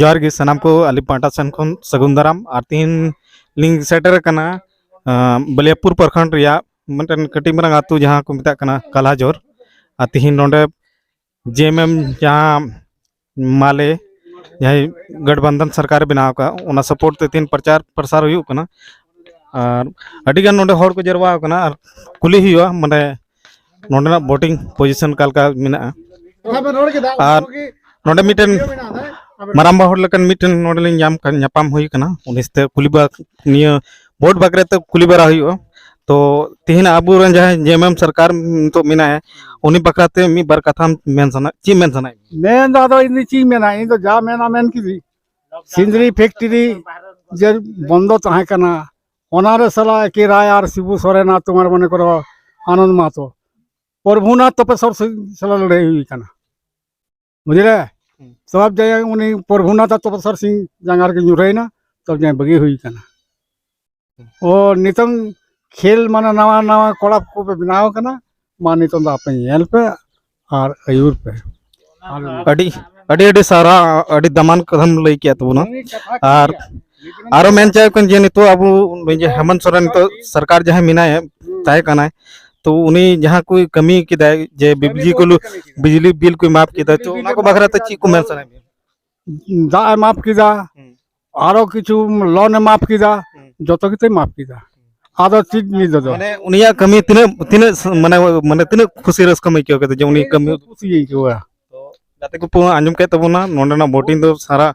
ᱡᱚᱦᱟᱨ ᱜᱮ ᱥᱟᱱᱟᱢ ᱠᱚ ᱟᱞᱤ ᱯᱟᱦᱴᱟ ᱥᱮᱱ ᱠᱷᱚᱱ ᱥᱟᱹᱜᱩᱱ ᱫᱟᱨᱟᱢ ᱟᱨ ᱛᱤᱦᱤᱧ ᱞᱤᱧ ᱥᱮᱴᱮᱨ ᱟᱠᱟᱱᱟ ᱵᱟᱞᱤᱭᱟᱯᱩᱨ ᱯᱨᱚᱠᱷᱚᱸᱰ ᱨᱮᱭᱟᱜ ᱢᱤᱫᱴᱮᱱ ᱠᱟᱹᱴᱤᱡ ᱢᱟᱨᱟᱝ ᱟᱛᱳ ᱡᱟᱦᱟᱸ ᱠᱚ ᱢᱮᱛᱟᱜ ᱠᱟᱱᱟ ᱠᱟᱞᱟᱡᱚᱨ ᱟᱨ ᱛᱤᱦᱤᱧ ᱱᱚᱰᱮ ᱡᱮ ᱮᱢ ᱮᱢ ᱡᱟᱦᱟᱸ ᱢᱟᱞᱮ ᱡᱟᱦᱟᱸᱭ ᱜᱟᱴᱵᱟᱱᱫᱷᱟᱱ ᱥᱚᱨᱠᱟᱨᱮ ᱵᱮᱱᱟᱣ ᱟᱠᱟᱫ ᱚᱱᱟ ᱥᱟᱯᱳᱨᱴ ᱛᱮ ᱛᱤᱦᱤᱧ ᱯᱨᱚᱪᱟᱨ ᱯᱨᱚᱥᱟᱨ ᱦᱩᱭᱩᱜ ᱠᱟᱱᱟ ᱟᱨ ᱟᱹᱰᱤᱜᱟᱱ ᱱᱚᱰᱮ ᱦᱚᱲ ᱠᱚ ᱡᱟᱨᱣᱟ ᱟᱠᱟᱱᱟ ᱟᱨ ᱠᱩᱞᱤ ᱦᱩᱭᱩᱜᱼᱟ ᱢᱟᱱᱮ ᱱᱚᱰᱮᱱᱟᱜ ᱵᱳᱴᱤᱝ ᱯᱚᱡᱤᱥᱚᱱ ᱚᱠᱟ ᱞᱮᱠᱟ ᱢᱮᱱᱟᱜᱼᱟ ᱟᱨ ᱱᱚᱰᱮ ᱢᱤᱫᱴᱮᱱ ᱢᱟᱨᱟᱝᱵᱟ ᱦᱚᱲ ᱞᱮᱠᱟᱱ ᱢᱤᱫᱴᱮᱱ ᱱᱚᱰᱮᱞᱤᱧ ᱧᱟᱢ ᱧᱟᱯᱟᱢ ᱦᱩᱭ ᱠᱟᱱᱟ ᱩᱱᱤ ᱥᱟᱛᱮ ᱠᱩᱞᱤ ᱵᱟᱲᱟ ᱱᱤᱭᱟᱹ ᱵᱷᱳᱴ ᱵᱟᱠᱷᱨᱟ ᱛᱮ ᱠᱩᱞᱤ ᱵᱟᱲᱟ ᱦᱩᱭᱩᱜᱼᱟ ᱛᱚ ᱛᱮᱦᱮᱧ ᱟᱵᱚᱨᱮᱱ ᱡᱟᱦᱟᱸᱭ ᱡᱮ ᱮᱢ ᱮᱢ ᱥᱚᱨᱠᱟᱨ ᱱᱤᱛᱚᱜ ᱢᱮᱱᱟᱭᱟ ᱩᱱᱤ ᱵᱟᱠᱷᱨᱟ ᱛᱮ ᱢᱤᱫ ᱵᱟᱨ ᱠᱟᱛᱷᱟᱢ ᱢᱮᱱ ᱥᱟᱱᱟ ᱪᱮᱫ ᱢᱮᱱ ᱥᱟᱱᱟᱭᱮᱫ ᱢᱮᱭᱟ ᱢᱮᱱ ᱫᱚ ᱟᱫᱚ ᱤᱧ ᱫᱚ ᱪᱮᱫ ᱤᱧ ᱢᱮᱱᱟ ᱤᱧ ᱫᱚ ᱡᱟ ᱢᱮᱱᱟ ᱢᱮᱱ ᱠᱤᱫᱤᱧ ᱥᱤᱸᱫᱽᱨᱤ ᱯᱷᱮᱠᱴᱨᱤ ᱡᱮ ᱵᱚᱱᱫᱚ ᱛᱟᱦᱮᱸ ᱠᱟᱱᱟ ᱚᱱᱟᱨᱮ ᱥᱟᱞᱟ ᱮᱠᱮ ᱨᱟᱭ ᱟᱨ ᱥᱤᱵᱩ ᱥᱚᱨᱮᱱ ᱟᱨ ᱛᱳᱢᱟᱨ ᱢᱚᱱᱮ ᱠᱚᱨᱚ ᱟᱱᱚᱱᱫ ᱢᱟᱦᱟᱛᱚ ᱯᱨᱚᱵᱷᱩᱱᱟᱛᱷ ᱛᱚᱯᱮᱥᱚᱨ ᱥᱟᱞᱟ ᱞᱟᱹᱲᱦᱟᱹᱭ ᱦᱩᱭ ᱠᱟᱱᱟ ᱵᱩᱡᱷᱟᱹᱣ ᱥᱚᱵ ᱡᱟᱭᱜᱟ ᱩᱱᱤ ᱯᱨᱚᱵᱷᱩᱱᱟᱛᱷ ᱛᱚᱯᱚᱥᱟᱨ ᱥᱤᱝ ᱡᱟᱸᱜᱟ ᱨᱮᱜᱮ ᱧᱩᱨᱦᱟᱹᱭᱮᱱᱟ ᱥᱚᱵ ᱡᱟᱭᱜᱟ ᱵᱟᱹᱜᱤ ᱦᱩᱭ ᱟᱠᱟᱱᱟ ᱚ ᱱᱤᱛᱚᱝ ᱠᱷᱮᱞ ᱢᱟᱱᱮ ᱱᱟᱣᱟ ᱱᱟᱣᱟ ᱠᱚᱲᱟ ᱠᱚᱯᱮ ᱵᱮᱱᱟᱣ ᱟᱠᱟᱱᱟ ᱢᱟ ᱱᱤᱛᱚᱝ ᱫᱚ ᱟᱯᱮ ᱧᱮᱞ ᱯᱮ ᱟᱨ ᱟᱹᱭᱩᱨ ᱯᱮ ᱟᱹᱰᱤ ᱟᱹᱰᱤ ᱟᱹᱰᱤ ᱥᱟᱨᱦᱟᱣ ᱟᱹᱰᱤ ᱫᱟᱢᱟᱱ ᱠᱟᱛᱷᱟᱢ ᱞᱟᱹᱭ ᱠᱮᱫ ᱛᱟᱵᱚᱱᱟ ᱟᱨ ᱟᱨᱚ ᱢᱮᱱ ᱪᱟᱦᱮ ᱠᱟᱱ ᱡᱮ ᱱᱤᱛᱚᱜ ᱟᱵᱚ ᱦᱮᱢᱚᱱᱛ ᱥᱚᱨᱮᱱ ᱱᱤᱛᱚᱜ ᱥᱚᱨᱠᱟᱨ ᱡᱟᱦᱟᱸᱭ ᱢᱮᱱᱟᱭᱟ ᱛᱟᱦᱮᱸ ᱠᱟᱱᱟᱭ ᱛᱚ ᱩᱱᱤ ᱡᱟᱦᱟᱸ ᱠᱚ ᱠᱟᱹᱢᱤ ᱠᱮᱫᱟᱭ ᱡᱮ ᱵᱤᱡᱽᱞᱤ ᱠᱚ ᱵᱤᱡᱽᱞᱤ ᱵᱤᱞ ᱠᱚ ᱢᱟᱯ ᱠᱮᱫᱟ ᱛᱚ ᱚᱱᱟ ᱠᱚ ᱵᱟᱠᱷᱨᱟ ᱛᱮ ᱪᱮᱫ ᱠᱚ ᱢᱮᱱ ᱥᱟᱱᱟᱭᱮᱫ ᱢᱮᱭᱟ ᱫᱟᱜ ᱮ ᱢᱟᱯ ᱠᱮᱫᱟ ᱟᱨᱚ ᱠᱤᱪᱷᱩ ᱞᱚᱱ ᱮ ᱢᱟᱯ ᱠᱮᱫᱟ ᱡᱚᱛᱚ ᱜᱮᱛᱚᱭ ᱢᱟᱯ ᱠᱮᱫᱟ ᱟᱫᱚ ᱪᱮᱫ ᱱᱤᱫᱚ ᱫᱚ ᱢᱟᱱᱮ ᱩᱱᱤᱭᱟᱜ ᱠᱟᱹᱢᱤ ᱛᱤᱱᱟᱹᱜ ᱛᱤᱱᱟᱹᱜ ᱢᱟᱱᱮ ᱢᱟᱱᱮ ᱛᱤᱱᱟᱹᱜ ᱠᱷᱩᱥᱤ ᱨᱟᱹᱥᱠᱟᱹᱢ ᱟᱹᱭᱠᱟᱹᱣ ᱠᱮᱫᱟ ᱡᱮ ᱩᱱᱤ ᱠᱟᱹᱢᱤ ᱠᱩᱥᱤ ᱟᱹᱭᱠᱟᱹᱣᱟ ᱜᱟᱛᱮ ᱠᱚ ᱟᱸᱡᱚᱢ ᱠᱮᱫ ᱛᱟᱵᱚᱱᱟ ᱱᱚᱰᱮᱱᱟᱜ ᱵᱳᱴᱤᱝ ᱫᱚ ᱥᱟᱨᱟ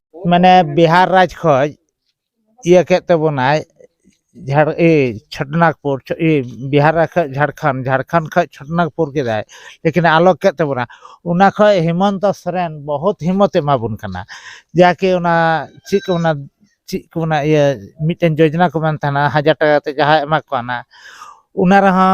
ᱢᱟᱱᱮ ᱵᱤᱦᱟᱨ ᱨᱟᱡᱽ ᱠᱷᱚᱡ ᱤᱭᱟᱹ ᱠᱮᱫ ᱛᱟᱵᱚᱱᱟᱭ ᱡᱷᱟᱲ ᱤᱭᱟᱹ ᱪᱷᱚᱴᱚᱱᱟᱜᱽᱯᱩᱨ ᱵᱤᱦᱟᱨ ᱨᱟᱡᱽ ᱠᱷᱚᱡ ᱡᱷᱟᱲᱠᱷᱚᱸᱰ ᱡᱷᱟᱲᱠᱷᱚᱸᱰ ᱠᱷᱚᱡ ᱪᱷᱚᱴᱚᱱᱟᱜᱽᱯᱩᱨ ᱠᱮᱫᱟᱭ ᱞᱮᱠᱤᱱ ᱟᱞᱚᱜᱽ ᱠᱮᱫ ᱛᱟᱵᱚᱱᱟ ᱚᱱᱟ ᱠᱷᱚᱡ ᱦᱮᱢᱚᱱᱛᱚ ᱥᱚᱨᱮᱱ ᱵᱚᱦᱩᱛ ᱦᱤᱢᱚᱛᱮ ᱮᱢᱟᱵᱚᱱ ᱠᱟᱱᱟ ᱡᱟᱠᱮ ᱚᱱᱟ ᱪᱮᱫ ᱠᱚ ᱢᱮᱱᱟ ᱪᱮᱫ ᱠᱚ ᱢᱮᱱᱟ ᱤᱭᱟᱹ ᱢᱤᱫᱴᱮᱱ ᱡᱳᱡᱚᱱᱟ ᱠᱚ ᱢᱮᱱ ᱛᱟᱦᱮᱱᱟ ᱦᱟᱡᱟᱨ ᱴᱟᱠᱟ ᱠᱟᱛᱮᱫ ᱡᱟᱦᱟᱸᱭ ᱮᱢᱟ ᱠᱚ ᱠᱟᱱᱟ ᱚᱱᱟ ᱨᱮᱦᱚᱸ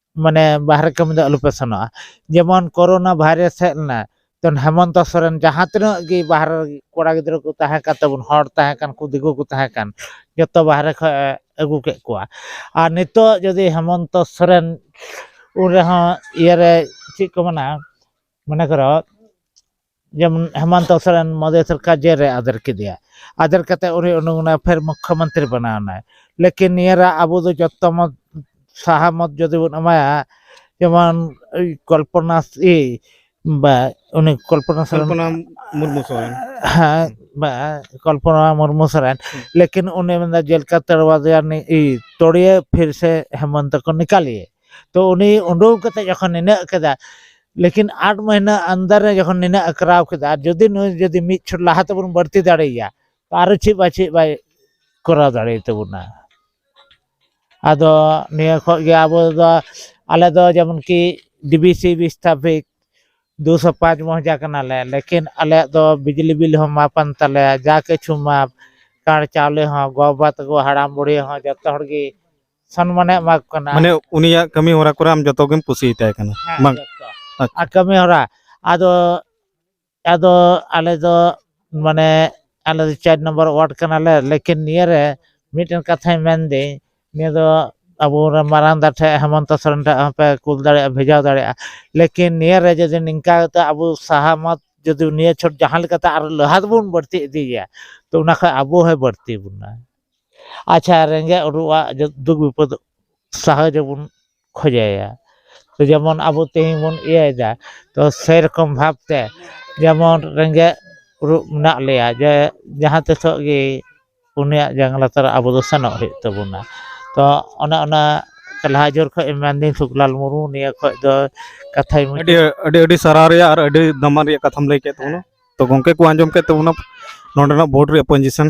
ᱢᱟᱱᱮ ᱵᱟᱦᱨᱮ ᱠᱟᱹᱢᱤ ᱫᱚ ᱟᱞᱚᱯᱮ ᱥᱮᱱᱚᱜᱼᱟ ᱡᱮᱢᱚᱱ ᱠᱳᱨᱳᱱᱟ ᱵᱷᱟᱭᱨᱟᱥ ᱦᱮᱡ ᱞᱮᱱᱟ ᱡᱚᱠᱷᱚᱱ ᱦᱮᱢᱚᱱᱛᱚ ᱥᱚᱨᱮᱱ ᱡᱟᱦᱟᱸ ᱛᱤᱱᱟᱹᱜ ᱜᱮ ᱵᱟᱦᱨᱮ ᱨᱮ ᱠᱚᱲᱟ ᱜᱤᱫᱽᱨᱟᱹ ᱠᱚ ᱛᱟᱦᱮᱸ ᱠᱟᱱ ᱛᱟᱵᱚᱱ ᱦᱚᱲ ᱛᱟᱦᱮᱸ ᱠᱟᱱ ᱠᱚ ᱫᱤᱠᱩ ᱠᱚ ᱛᱟᱦᱮᱸ ᱠᱟᱱ ᱡᱚᱛᱚ ᱵᱟᱦᱨᱮ ᱠᱷᱚᱱ ᱮ ᱟᱹᱜᱩ ᱠᱮᱫ ᱠᱚᱣᱟ ᱟᱨ ᱱᱤᱛᱚᱜ ᱡᱩᱫᱤ ᱦᱮᱢᱚᱱᱛᱚ ᱥᱚᱨᱮᱱ ᱩᱱ ᱨᱮᱦᱚᱸ ᱤᱭᱟᱹᱨᱮ ᱪᱮᱫ ᱠᱚ ᱢᱮᱱᱟ ᱢᱚᱱᱮ ᱠᱚᱨᱚ ᱡᱮᱢᱚᱱ ᱦᱮᱢᱚᱱᱛᱚ ᱥᱚᱨᱮᱱ ᱢᱳᱫᱤ ᱥᱚᱨᱠᱟᱨ ᱡᱮᱞ ᱨᱮ ᱟᱫᱮᱨ ᱠᱮᱫᱮᱭᱟ ᱟᱫᱮᱨ ᱠᱟᱛᱮ ᱩᱱᱤ ᱩᱰᱩᱠ ᱮᱱᱟᱭ ᱯᱷᱮᱨ ᱢᱩᱠᱠᱷᱚ ᱢᱚᱱᱛᱨᱤ ᱵᱮᱱᱟᱣ ᱮᱱᱟᱭ ᱞᱮᱠᱤᱱ ᱱᱤᱭᱟᱹ ᱨᱮ ᱟᱵᱚ ᱫᱚ ᱡᱚᱛᱚ ᱢᱚᱛ ᱥᱟᱦᱟ ᱢᱚᱛ ᱡᱩᱫᱤ ᱵᱚᱱ ᱮᱢᱟᱭᱟ ᱡᱮᱢᱚᱱ ᱠᱚᱞᱯᱚᱱᱟ ᱤᱭᱟᱹ ᱵᱟ ᱩᱱᱤ ᱠᱚᱞᱯᱚᱱᱟ ᱥᱚᱨᱮᱱ ᱠᱚᱞᱯᱚᱱᱟ ᱢᱩᱨᱢᱩ ᱥᱚᱨᱮᱱ ᱦᱮᱸ ᱵᱟ ᱠᱚᱞᱯᱚᱱᱟ ᱢᱩᱨᱢᱩ ᱥᱚᱨᱮᱱ ᱞᱮᱠᱤᱱ ᱩᱱᱤ ᱢᱮᱱᱫᱟ ᱡᱮᱞ ᱠᱟ ᱛᱚᱲᱣᱟ ᱫᱮᱭᱟ ᱛᱚᱲᱤᱭᱮ ᱯᱷᱤᱨ ᱥᱮ ᱦᱮᱢᱚᱱᱛᱚ ᱠᱚ ᱱᱤᱠᱟᱞᱤᱭᱮ ᱛᱚ ᱩᱱᱤ ᱩᱰᱩᱠ ᱠᱟᱛᱮ ᱡᱚᱠᱷᱚᱱ ᱱᱤᱱᱟᱹᱜ ᱠᱮᱫᱟᱭ ᱞᱮᱠᱤᱱ ᱟᱴ ᱢᱟᱹᱦᱱᱟᱹ ᱟᱱᱫᱟᱨ ᱨᱮ ᱡᱚᱠᱷᱚᱱ ᱱᱤᱱᱟᱹᱜ ᱮ ᱠᱚᱨᱟᱣ ᱠᱮᱫᱟ ᱟᱨ ᱡᱩᱫᱤ ᱱᱩᱭ ᱡᱩᱫᱤ ᱢᱤᱫ ᱪᱷᱚᱴ ᱞᱟᱦᱟ ᱛᱮᱵᱚᱱ ᱵᱟᱹᱲᱛᱤ ᱫᱟᱲᱮᱭᱟᱭᱟ ᱛᱚ ᱟᱨᱚ ᱪᱮᱫ ᱵᱟᱭ ᱪᱮᱫ ᱵᱟᱭ ᱠᱚᱨᱟᱣ ᱫᱟᱲᱮᱭ ᱛᱟᱵᱚᱱᱟ ᱟᱫᱚ ᱱᱤᱭᱟᱹ ᱠᱷᱚᱡ ᱜᱮ ᱟᱵᱚ ᱫᱚ ᱟᱞᱮ ᱫᱚ ᱡᱮᱢᱚᱱ ᱠᱤ ᱰᱤᱵᱤᱥᱤ ᱵᱤᱥᱛᱷᱟᱯᱤᱠ ᱫᱩ ᱥᱚ ᱯᱟᱸᱪ ᱢᱚᱦᱡᱟ ᱠᱟᱱᱟᱞᱮ ᱞᱮᱠᱤᱱ ᱟᱞᱮᱭᱟᱜ ᱫᱚ ᱵᱤᱡᱽᱞᱤ ᱵᱤᱞ ᱦᱚᱸ ᱢᱟᱯ ᱟᱱ ᱛᱟᱞᱮᱭᱟ ᱡᱟ ᱠᱤᱪᱷᱩ ᱢᱟᱯ ᱠᱟᱬ ᱪᱟᱣᱞᱮ ᱦᱚᱸ ᱜᱚ ᱵᱟᱵᱟ ᱛᱟᱠᱚ ᱦᱟᱲᱟᱢ ᱵᱩᱲᱦᱤ ᱦᱚᱸ ᱡᱚᱛᱚ ᱦᱚᱲ ᱜᱮ ᱥᱚᱱᱢᱟᱱᱮ ᱮᱢᱟ ᱠᱚ ᱠᱟᱱᱟ ᱢᱟᱱᱮ ᱩᱱᱤᱭᱟᱜ ᱠᱟᱹᱢᱤ ᱦᱚᱨᱟ ᱠᱚᱨᱮ ᱟᱢ ᱡᱚᱛᱚ ᱜᱮᱢ ᱠᱩᱥᱤᱭᱟᱛᱟᱭ ᱠᱟᱱᱟ ᱦᱮᱸ, ᱵᱟᱝ? ᱡᱚᱛᱚ᱾ ᱟᱪᱪᱷᱟ᱾ ᱟᱨ ᱠᱟᱹᱢᱤ ᱦᱚᱨᱟ ᱟᱫᱚ ᱟᱫᱚ ᱟᱞᱮ ᱫᱚ ᱢᱟᱱᱮ ᱟᱞᱮ ᱫᱚ ᱪᱟᱨ ᱱᱚᱢᱵᱚᱨ ᱳᱣᱟᱨᱰ ᱠᱟᱱᱟᱞᱮ ᱞᱮᱠᱤᱱ ᱱᱤᱭᱟᱹ ᱨᱮ ᱢᱤᱫᱴᱮᱱ ᱠᱟᱛᱷᱟᱧ ᱢᱮᱱᱫᱟᱹᱧ ᱱᱤᱭᱟᱹ ᱫᱚ ᱟᱵᱚ ᱨᱮ ᱢᱟᱨᱟᱝ ᱫᱟ ᱴᱷᱮᱡ ᱦᱮᱢᱚᱱᱛᱚ ᱥᱚᱨᱮᱱ ᱴᱷᱮᱡ ᱦᱚᱸᱯᱮ ᱠᱩᱞ ᱫᱟᱲᱮᱭᱟᱜᱼᱟ ᱵᱷᱮᱡᱟ ᱫᱟᱲᱮᱭᱟᱜᱼᱟ ᱞᱮᱠᱤᱱ ᱱᱤᱭᱟᱹ ᱨᱮ ᱡᱩᱫᱤ ᱱᱤᱝᱠᱟ ᱠᱟᱛᱮ ᱟᱵᱚ ᱥᱟᱦᱟᱢᱚᱛ ᱡᱩᱫᱤ ᱱᱤᱭᱟᱹ ᱪᱷᱚᱴ ᱡᱟᱦᱟᱸ ᱞᱮᱠᱟᱛᱮ ᱟᱨᱚ ᱞᱟᱦᱟ ᱫᱚᱵᱚᱱ ᱵᱟᱹᱲᱛᱤ ᱤᱫᱤᱭᱮᱭᱟ ᱛᱚ ᱚᱱᱟ ᱠᱷᱚᱡ ᱟᱵᱚ ᱦᱚᱸᱭ ᱵᱟᱹᱲᱛᱤ ᱵᱚᱱᱟ ᱟᱪᱪᱷᱟ ᱨᱮᱸᱜᱮᱡ ᱚᱨᱩᱣᱟᱜ ᱫᱩᱠ ᱵᱤᱯᱚᱫ ᱥᱟᱦᱟᱣ ᱡᱮᱢᱚᱱ ᱠᱷᱚᱡᱟᱭᱟ ᱛᱚ ᱡᱮᱢᱚᱱ ᱟᱵᱚ ᱛᱮᱦᱮᱧ ᱵᱚᱱ ᱤᱭᱟᱹᱭᱮᱫᱟ ᱛᱚ ᱥᱮᱨᱚᱠᱚᱢ ᱵᱷᱟᱵᱽ ᱛᱮ ᱡᱮᱢᱚᱱ ᱨᱮᱸᱜᱮᱡ ᱚᱨᱩᱜ ᱢᱮᱱᱟᱜ ᱞᱮᱭᱟ ᱡᱮ ᱡᱟᱦᱟᱸ ᱛᱤᱥᱚᱜ ᱜᱮ ᱩᱱᱤᱭᱟᱜ ᱡᱟᱝ ᱞᱟᱛᱟᱨ ᱨᱮ ᱟᱵᱚ ᱫᱚ ᱥᱮᱱᱚᱜ ᱦᱩᱭᱩᱜ ᱛᱟᱵᱚᱱᱟ ᱛᱚ ᱚᱱᱮ ᱚᱱᱟ ᱞᱟᱦᱟ ᱡᱳᱨ ᱠᱷᱚᱡ ᱢᱮᱱᱫᱟᱹᱧ ᱥᱩᱠᱞᱟᱞ ᱢᱩᱨᱢᱩ ᱱᱤᱭᱟᱹ ᱠᱷᱚᱡ ᱫᱚ ᱠᱟᱛᱷᱟᱭ ᱢᱩᱪᱟᱹᱫ ᱟᱹᱰᱤ ᱟᱹᱰᱤ ᱟᱹᱰᱤ ᱥᱟᱨᱦᱟᱣ ᱨᱮᱭᱟᱜ ᱟᱨ ᱟᱹᱰᱤ ᱫᱟᱢᱟᱱ ᱨᱮᱭᱟᱜ ᱠᱟᱛᱷᱟᱢ ᱞᱟᱹᱭ ᱠᱮᱫ ᱛᱟᱵᱚᱱᱟ ᱛᱚ ᱜᱚᱝᱠᱮ ᱠᱚ ᱟᱸᱡᱚᱢ ᱠᱮᱫ ᱛᱟᱵᱚᱱᱟ ᱱᱚᱰᱮᱱᱟᱜ ᱵᱳᱨᱰ ᱨᱮᱭᱟᱜ ᱯᱚᱡᱤᱥᱮᱱ